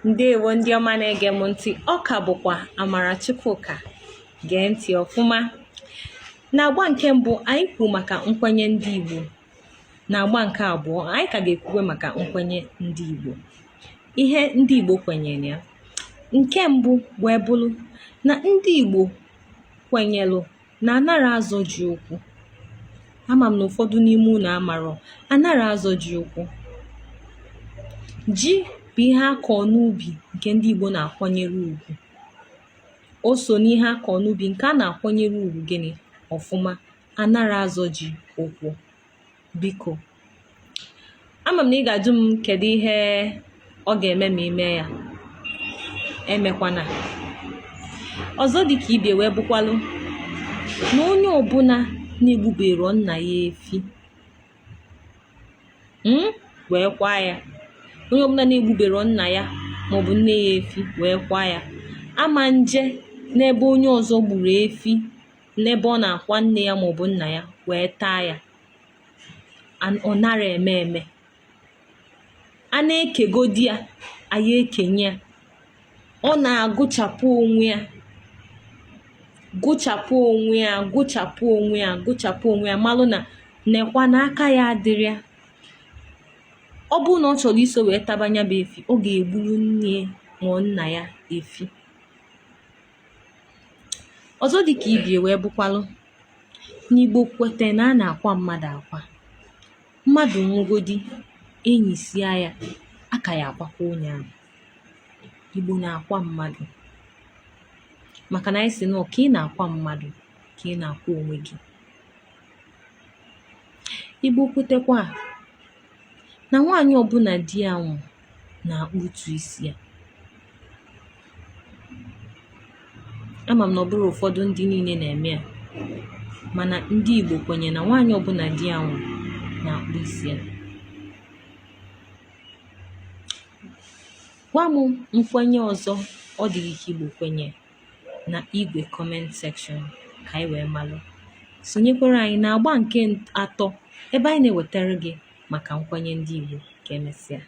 ndewo ndị ọma na-ege m ntị ọ ka bụkwa amara chukwuka gee ntị ọfụma na agba nke mbụ anyị kwuru maka nkwenye ndị igbo na agba nke abụọ anyị ka ga-ekwuwe maka nkwenye ndị igbo ihe ndị igbo kwenyere ya nke mbụ wee bụrụ na ndị igbo kwenyelụ na a nara azọ ji ụkwụ ama m na ụfọdụ n'ime unu amarọ a nara azọ ji ụkwụ ji bụ ihe a kọ n'ubi nke ndị Igbo na-akwanyere ugwu o so n'ihe a kọ n'ubi nke a na-akwanyere ugwu gịnị ọfụma a nara azọ ji ụkwụ biko ama m na ị ga-ajụ m kedu ihe ọ ga-eme ma i mee ya emekwana ọzọ dị ka ibie wee bụkwalụ na onye ọbụla na-egbubero nna ya efi hmm, wee kwaa ya onye ọbụla na-egbubero nna ya maọbụ nne ya efi wee kwaa ya ama nje n'ebe onye ọzọ gburu efi n'ebe ọ na-akwa nne ya ma ọ bụ nna ya wee taa ya ọ nara eme eme a na-ekegodi ya anyị ekenye ya ọ na-agụchapụ onwe ya gụchapụ onwe ya gụchapụ onwe ya gụchapụ onwe ya malụ na nekwa na aka ya adịrọ ya ọ bụrụ na ọ chọrọ iso wee taba nya bụ efi ọ ga-egburu nne ya ma ọ bụ nna ya efi ọzọ dị ka ibie wee bụkwalụ na igbo kwete na a na-akwa mmadụ akwa mmadụ nwụgodi e nisịa ya a ka ya-akwakwa onye ahụ igbo na-akwa mmadụ maka na anyị sị na ka ị na-akwa mmadụ ka ị na-akwa onwe gị igbo kwetekwa na nwaanyị ọbụla di ya nwụ na-akpụtu isi ya ama m na ọ bụrọ ụfọdụ ndị niile na-eme ya mana ndị Igbo kwenye na nwaanyị ọbụla di ya nwụ na-akpụ isi ya gwa m nkwenye ọzọ ọ dị gị ka Igbo kwenye na igbe comment section ka anyị wee malụ sonyekwara anyị na agba nke atọ ebe anyị na-ewetara gị maka nkwenye ndị Igbo ka emesịa